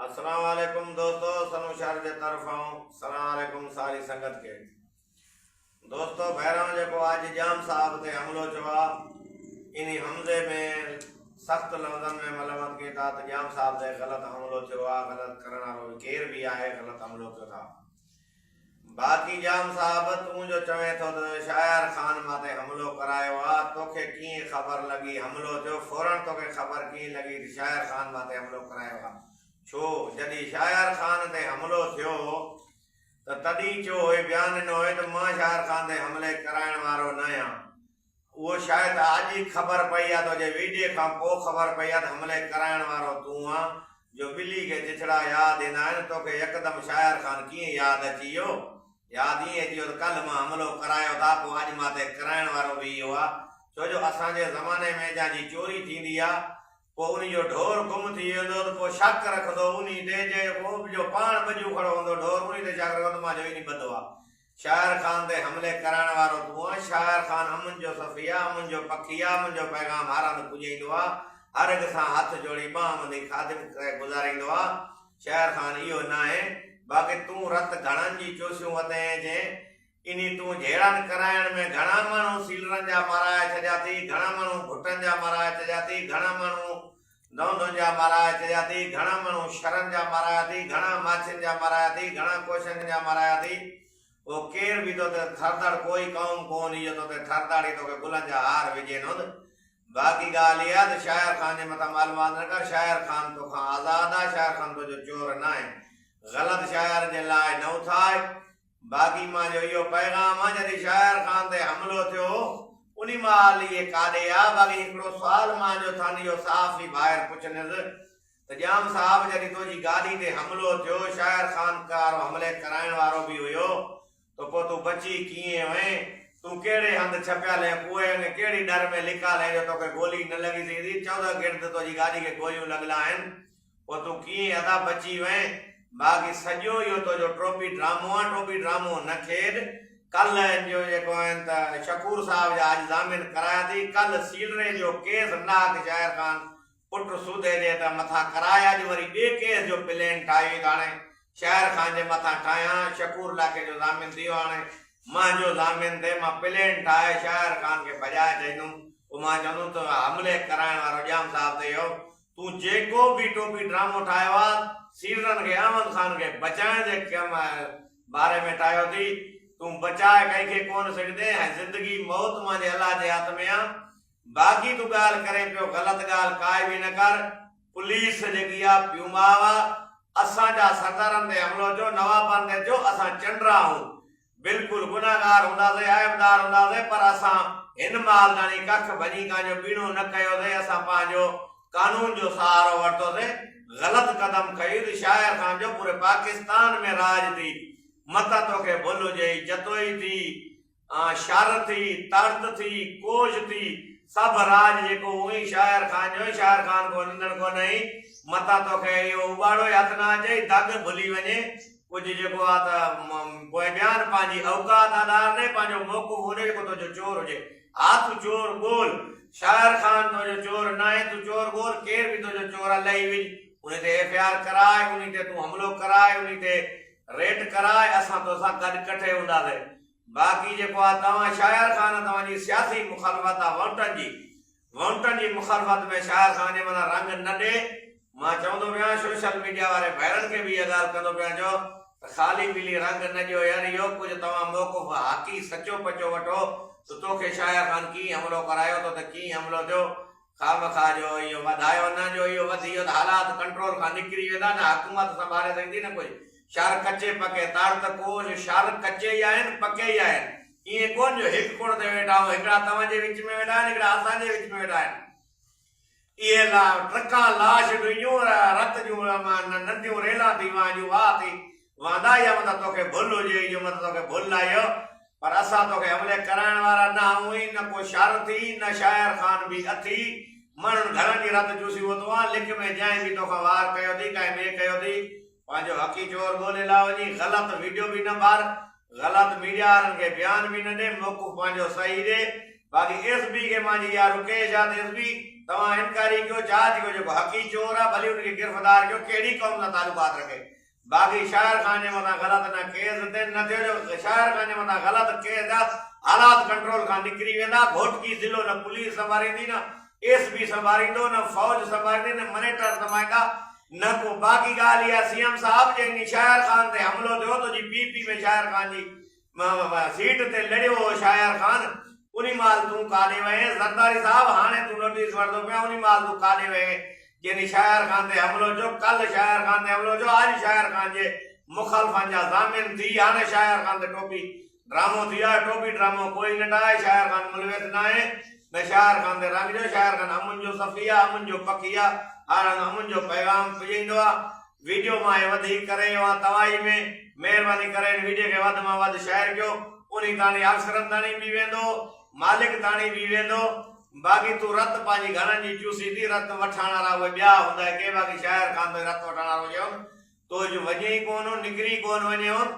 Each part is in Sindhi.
السلام عليڪم دوستو سنو شهر جي طرفان سلام عليڪم ساري سنگت کي دوستو بهران جيڪو اڄ جام صاحب تي حملو ٿيو آ اني حملي ۾ سخت لفظن ۾ ملامت ڪي ٿا ته جام صاحب تي غلط حملو ٿيو آ غلط ڪرڻ وارو ڪير به آهي غلط حملو ڪيو ٿا باقي ڄام صاحب تون جو چوين ٿو ته شايار خان مان تي حملو ڪرايو آ توکي ڪيئن خبر لڳي حملو ٿيو فورن توکي خبر ڪيئن لڳي ته شايار خان مان تي حملو ڪرايو آ ڇو جڏي شايار خان تي حملو ٿيو هو ته تڏي چيو هئي بيان ڏنو هئي ته مان شايار خان تي حملي ڪرائڻ وارو نه هيان. اهو شايد اڄ ئي خبر پئي آ توجي ويڊيو کان پو خبر پئي آ ته حملي ڪرائڻ وارو تون آن جو ٻلي کي چچڙا ياد ايندا آهن توکي يڪدم شاعر خان ڪيئن ياد اچي ويو ياد ائين اچي ويو ته ڪلهه مان حملو ڪرايو ته آ پو اڄ ماتي ڪرائڻ وارو به اهو آ ڇوجو اسان جي زماني ۾ جان جي چوري ٿيندي آ پو انهي جو ڍور گم ٿي ويندو ته پو شڪ رکندو انهي تي جي ڪو به جو پاڻ ٻجو کڙو هوندو ڍور انهي تي شڪ رکندو مان جو انهي ٻڌو آ شاعر خان تي حملي ڪرائڻ وارو تون آن، شاعر خان امن جو سفي آ، امن جو پکي آ، امن جو پيغام هر هنڌ پڄائيندو آ، هر هڪ سان هٿ جوڙي ٻانهن ٻڌي خادم ڪري گذاريندو آ، شاعر خان اهو ناهي، باقي تون رت گهڻن جي چوسيون وتين جين انهي تون جهيڙن ڪرائڻ ۾ گهڻا ماڻهو سيلرن جا مارائي ڇڏيا ٿي، گهڻا ماڻهو گهٽن جا مارائي ڇڏيا ٿي، گهڻا ماڻهو. دهندن جا مارايا چريا ٿي، گهڻا مڻهو شرن جا مارايا ٿي، گهڻا ماڇين جا مارايا ٿي، گهڻا ڪوشن جا مارايا ٿي. او ڪير به تو تي ٿردڙ ڪوئي قوم ڪونهي جو تو تي ٿردڙ ئي توکي گلن جا هار وجهين هوند. باقي ڳالهه اها ته شاعر خان جي مٿان معلومات نه ڪر، شاعر خان توکان آزاد آهي، شاعر خان تنهنجو چور ناهي. غلط شاعر جي لاء نه اٿاء. باغي مان جو اهو پيغام آ جڏهن شاعر خان تي حملو ٿيو هو انهي مهال اهي ڪاڏي آ باغي هڪڙو سوال مان جو ٿان اهو صحافي ڀائر پڇنس ته ڄام صاحب جڏهن تنهنجي گاڏي تي حملو ٿيو شاعر خان ڪار حملي ڪرائڻ وارو به هيو ته پو تون بچي ڪيئن وئين تون ڪهڙي هنڌ ڇپيل هين پوء انهي ڪهڙي ڏر ۾ لڪال هين جو توکي گولي نه لڳي سگهندي چوڌه گرد تنهنجي گاڏي کي گوليون لڳل آهن پوء تون ڪيئن ادا بچي وئين. باقي سڄو اهو تنهنجو ٽوپي ڊرامو آهي، ٽوپي ڊرامو نه کيڏ، ڪل هن جو جيڪو آهن ته شڪور صاحب جا اڄ ضامن ڪرايا ٿي، ڪل سيلري جو ڪيس ناهڪ شاعر خان پٽ سوديجي ته مٿان ڪرايا، اڄ وري ٻئي ڪيس جو پلين ٺاهيو ته هاڻي شاعر خان جي مٿان ٺاهيان، شڪور لاکي جو ضامن ٿي ويو هاڻي مهنجو ضامن ٿئي، مان پلين ٺاهي شاعر خان کي ڀڄائي ڇڏيندوم، پوء مان چوندوم ته حملي ڪرائڻ وارو ڄام صاحب ته اهو تون جيڪو به ٽوپي ڊرامو ٺاهيو آ سيڙرن کي احمد خان کي بچائڻ جي ڪم باري ۾ ٺاهيو ٿي تون بچاء ڪنهن کي ڪونه سگهندين ۽ زندگي موت مانجهي الله جي هٿ ۾ آ باقي تون ڳالهه ڪرين پيو غلط ڳالهه ڪائي به نه ڪر پوليس جيڪي آ پيوماء آ اسان جا سردارن تي حملو جو نوابن تي ٿيو اسان چنڊرا آهون بلڪل گنهگار هونداسين، عيبدار هونداسين، پر اسان هن مال داڻي ڪک ڀڃي ڪان جو ٻيڻو نه ڪيوسين، اسان پنهنجو قانون جو سهارو ورتوسين، غلط قدم کنيو ته شاعر سان جو پوري پاڪستان ۾ راڄ ٿي، متان توکي ڀل هجئي، جتوئي ٿي، شر ٿي، تڙت ٿي، ڪوش ٿي، سڀ راڄ جيڪو هو ئي شاعر خان جو ۽ شاعر خان کان ننڊڙ ڪونه هئي، متان توکي اهو اٻاڙو ئي هٿ نه اچئي، دڳ ڀلي وڃي، ڪجهه جيڪو آ ته پوء ٻيان پنهنجي اوقات آڏار ني پنهنجو موقعو ڪونهي جيڪو تو جو چور هجي ها تون چور ڳول شاعر خان تو جو چور ناهي تون چور ڳول ڪير به تو جو چور آ لهي وڃ انهي تي ايف اي آر ڪراء انهي تي تون حملو ڪراء انهي تي ريٽ ڪراء اسان تو سان گڏ ڪٺي هوندا سي باقي جيڪو آ توهان شاعر خان توهان جي سياسي مخالفت آ وونٽن جي ووٽن جي مخالفت ۾ شاعر سان انهي مھل رنگ نه ڏي، مان چوندو پيان سوشل ميڊيا واري ڀائرن کي به اھا ڳالھ ڪندو پيان جو ته خالي پيلي رنگ نه ڏيو يار اھو ڪجھ توھان موقف حقي سچو پچو وٺو ته توکي شاعر خان ڪيئن حملو ڪرايو ٿو ته ڪيئن حملو ٿيو خامخواه جو اھو وڌايو نه جو اھو وڌي ويو ته حالات ڪنٽرول کان نڪري ويندا نه حڪومت سنڀالي سگھندي نه ڪجھ شعر ڪچي پڪي تاڙ ته ڪوھ شعر ڪچي ئي آھن پڪي ئي آھن. ائين ڪونه جو هڪ ڪوڻ تي ويٺا آهيون، هڪڙا توهان جي وچ ۾ ويٺا آهن، هڪڙا اسان جي وچ ۾ ويٺا آهن. اهي ٽرڪان لاش ڊوئيون رت جون ننڍيون ريلان ٿي وهن جون واهه ٿي وهندا يا متان توکي ڀل هجي ئي جو متان توکي ڀل آهيء پر اسان توکي حملي ڪرائڻ وارا نه آهيون ۽ نه ڪو شر ٿي نه شاعر خان به اٿي ماڻهن گهرن جي رت چوسي ووتو آهن لڪ ۾ جنهن به توکان وار ڪيو ٿي ڪنهن ٻئي ڪيو ٿي پنهنجو حقي چور ڳولي لا وڃي غلط ويڊيو به نه ٻار غلط ميڊيا وارن کي بيان به نه ڏي موقف پنهنجو صحيح ڏي باقي ايس بي کي مانجي اها رڪيش آ ته ايس بي توهان انڪاري ڪيو جاچ ڪيو جيڪو حقي چور آ ڀلي ان کي گرفدار ڪيو ڪهڙي قوم سان تعلقات رکي باقي شاعر خان جي مٿان غلط نه ڪيس تين نه ٿيو جو شاعر خان جي مٿان غلط ڪيس ٿيا حالات ڪنٽرول کان نڪري ويندا گهوٽڪي ضلعو نه پوليس سنڀاريندي نه ايس بي سنڀاريندو نه فوج سنڀاريندي نه منيٽر سنڀاريندا نه ڪو باقي ڳالهه اها سي ايم صاحب جي انهي شاعر خان تي حملو ٿيو تو جي پي پي ۾ شاعر خان جي سيٽ تي لڙيو هو شاعر خان انهي مهل تون ڪاڏي وئين زرداري صاحب هاڻي تون نوٽيس وٺدو پين انهي مهل تون ڪاڏي وئين جنهي شاعر خان تي حملو ٿيو ڪل شاعر خان تي حملو ٿيو اڄ شاعر خان جي مخلفن جا ضامن ٿي هاڻي شاعر خان تي ٽوپي ڊرامو ٿي آ ٽوپي ڊرامو ڪوئي نه ڊاهي شاعر خان ملويت ناهي نه شاعر خان تي رنگ جو شاعر خان امن جو سخي آ امن جو پکي آ هر هنڌ امن جو پيغام پڄائيندو آ ويڊيو مان هي وڌيڪ ڪري رهيو آهيان توهائي ۾ مهرباني ڪري هن ويڊيو کي وڌ مان وڌ شيئر ڪيو انهي تاڻي آفسرن تاڻي به ويندو مالڪ تاڻي به ويندو باقي تون رت پنهنجي گهڻن جي چوسين ٿي رت وٺڻ وارا اهي ٻيا هوندا ڪي باقي شاعر خان تون رت وٺڻ وارو چيو تو جو وڃي ئي ڪون هون نڪري ئي ڪون وڃي هون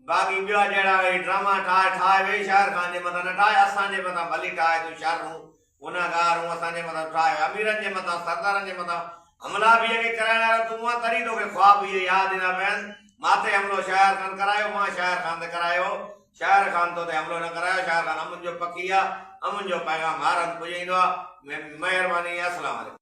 باقي ٻيا جهڙا اهي ڊراما ٺاهي ٺاهي ويهه شاهر خان جي مٿان نه ٺاهي اسان جي مٿان ڀلي ٺاهي تون شر هون گنهگار هون اسان جي مٿان ٺاهي اميرن جي مٿان سردارن جي مٿان حملا به اڳي ڪرائڻ وارا تون هئين تڏهن توکي خواب اهي ياد ايندا پين ماٿي حملو شاهر خان ڪرايو مان شاهر خان تي ڪرايو هو شاهر خان تو تي حملو نه ڪرايو شاهر خان امن جو پکي آ امن جو پيغام هر هنڌ پڄائيندو آ مهرباني اسلام عليڪم.